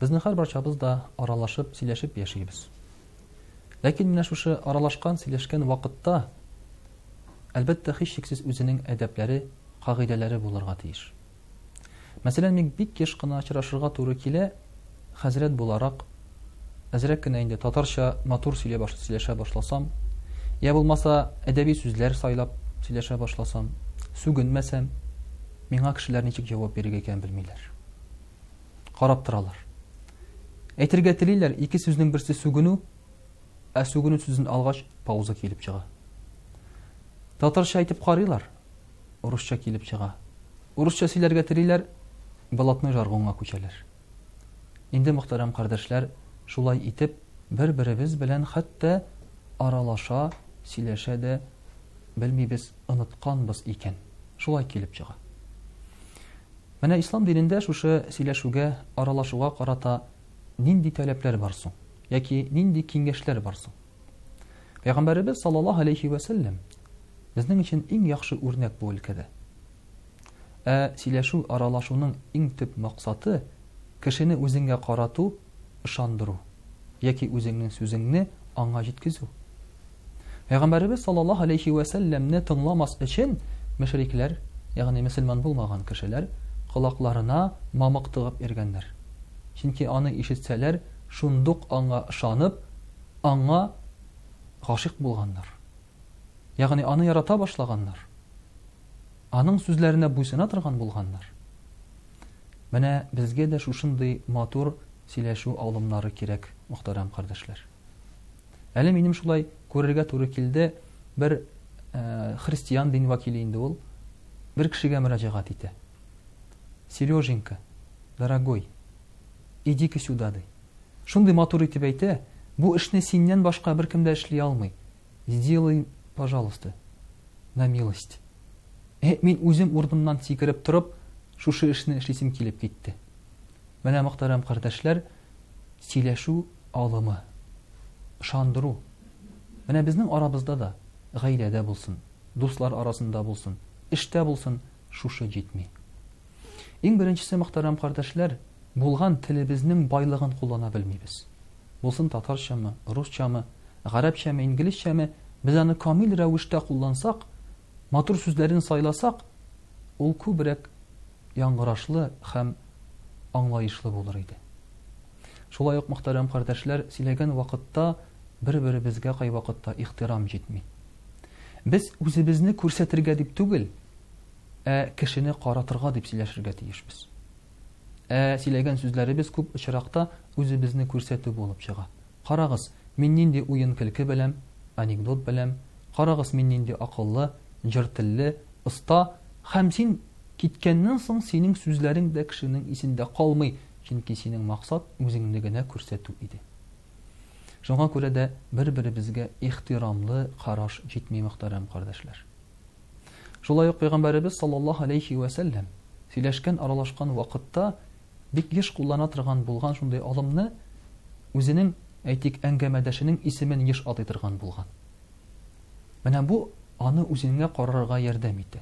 Безнең хәр барчабыз да аралашып, сөйләшеп яшибез. Ләкин менә шушы аралашкан, сөйләшкән вакытта әлбәттә һичшиксез үзенең әдәпләре, кагыйдәләре булырга тиеш. Мәсәлән, мин бик еш кына очрашырга туры килә хәзрәт буларак әзрәк кенә инде татарча матур сөйлә баш, сөйләшә башласам, я булмаса әдәби сүзләр сайлап сөйләшә башласам, сүгенмәсәм, миңа кешеләр ничек җавап бирергә икәнен белмиләр. Карап торалар. Әйтергә телиләр, ике сүзнең берсе сүгенү, ә сүгенү сүзен алгач, пауза килеп чыга. Татарча әйтеп карыйлар, урысча килеп чыга. Урысча сөйләргә телиләр, блатной жаргонга күчәләр. Инде, мөхтәрәм кардәшләр, шулай итеп, бер-беребез белән хәтта аралаша, сөйләшә дә белмибез, онытканбыз икән. Шулай килеп чыга. Менә ислам динендә шушы сөйләшүгә, аралашуга карата нинди таләпләр бар соң? Яки нинди киңәшләр бар соң? Пәйгамбәребез саллаллаһу алейхи ва сәлләм безнең өчен иң яхшы үрнәк бу өлкәдә. Ә сөйләшү, аралашуның иң төп максаты, кешене үзеңгә карату, ышандыру, яки үзеңнең сүзеңне аңа җиткезү. Пәйгамбәребез саллаллаһу алейһи вә сәлләмне тыңламас өчен мөшрикләр, ягъни мөселман булмаган кешеләр, колакларына мамык тыгып йөргәннәр. Чөнки аны ишетсәләр, шундук аңа ышанып, аңа гашыйк булганнар. ягъни аны ярата башлаганнар, аның сүзләренә буйсына торган булганнар. Менә безгә дә шушындый матур сөйләшү алымнары кирәк, мөхтәрәм кардәшләр. Әле минем шулай күрергә туры килде, бер э, христиан дин вәкиле инде ул, бер кешегә мөрәҗәгать итә. Сереженька, дорогой, иди-ка сюда, ди. Шундый матур итеп әйтә, бу эшне синнән башка беркем дә эшли алмый. Сделай, пожалуйста, на милость. Э, мин үзем урынымнан сикереп торып, шушы эшне эшлисем килеп китте. Менә мөхтәрәм кардәшләр, сөйләшү алымы, ышандыру. Менә безнең арабызда да, гаиләдә булсын, дуслар арасында булсын, эштә булсын, шушы җитми. Иң беренчесе, мөхтәрәм кардәшләр, булган телебезнең байлыгын куллана белмибез. Булсын татарчамы, русчамы, гарәпчәме, инглизчәме, без аны камил рәвештә куллансак, матур сүзләрен сайласак, ул күбрәк яңгырашлы һәм аңлаешлы булыр иде. Шулай ук, мөхтәрәм кардәшләр, сөйләгән вакытта Бер-беребезгә кайвакытта ихтирам җитми. Без үзебезне күрсәтергә дип түгел, ә кешене каратырга дип сөйләшергә тиешбез. Ә сөйләгән сүзләребез күп очракта үзебезне күрсәтү булып чыга. Карагыз, мин нинди уен көлке беләм, анекдот беләм, карагыз мин нинди акыллы, җыр телле, оста, һәм син киткәннән соң синең сүзләрең дә кешенең исендә калмый, чөнки синең максат үзеңне генә күрсәтү иде. Шуңа күрә дә бер-беребезгә ихтирамлы караш җитми, мөхтәрәм кардәшләр. Шулай ук Пәйгамбәребез саллаллаһу алейхи вә сәлләм сөйләшкән, аралашкан вакытта бик еш куллана торган булган шундый алымны үзенең, әйтик, әңгәмәдәшенең исемен еш атый торган булган. Менә бу аны үзеңә карарга ярдәм итә.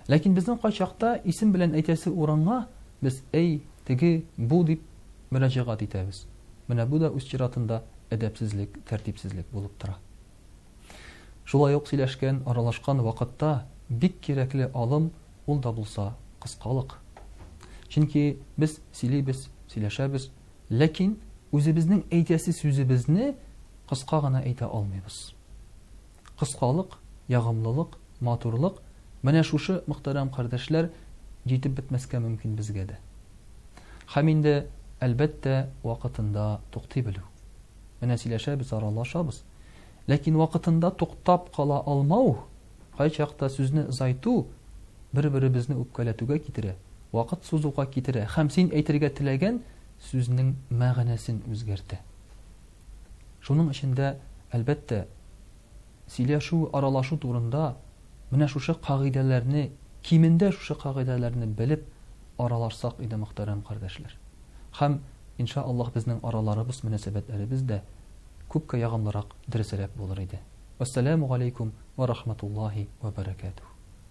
Ләкин безнең кайчакта исем белән әйтәсе урынга без әй, теге, бу дип мөрәҗәгать итәбез. Менә бу да үз чиратында әдәпсезлек, тәртипсезлек булып тора. Шулай ук сөйләшкән, аралашкан вакытта бик кирәкле алым ул да булса кыскалык. Чөнки без сөйлибез, сөйләшәбез, ләкин үзебезнең әйтәсе сүзебезне кыска гына әйтә алмыйбыз. Кыскалык, ягымлылык, матурлык менә шушы мөхтәрәм кардәшләр җитеп бетмәскә мөмкин безгә дә. Һәм инде, әлбәттә, вакытында туктый белү. Менә сөйләшәбез, аралашабыз. Ләкин вакытында туктап кала алмау, кайчакта сүзне озайту бер-беребезне үпкәләтүгә китерә, вакыт сузуга китерә һәм син әйтергә теләгән сүзнең мәгънәсен үзгәртә. Шуның өчен дә, әлбәттә, Сөйләшү, аралашу турында менә шушы кагыйдәләрне, кимендә шушы кагыйдәләрне белеп аралашсак иде, мөхтәрәм кардәшләр. Һәм, ин шаә Аллаһ, безнең араларыбыз, мөнәсәбәтләребез дә күпкә ягымлырак, дөресрәк булыр иде. Вәссәламү галәйкүм вә рахматуллаһи вә бәрәкәтүһ.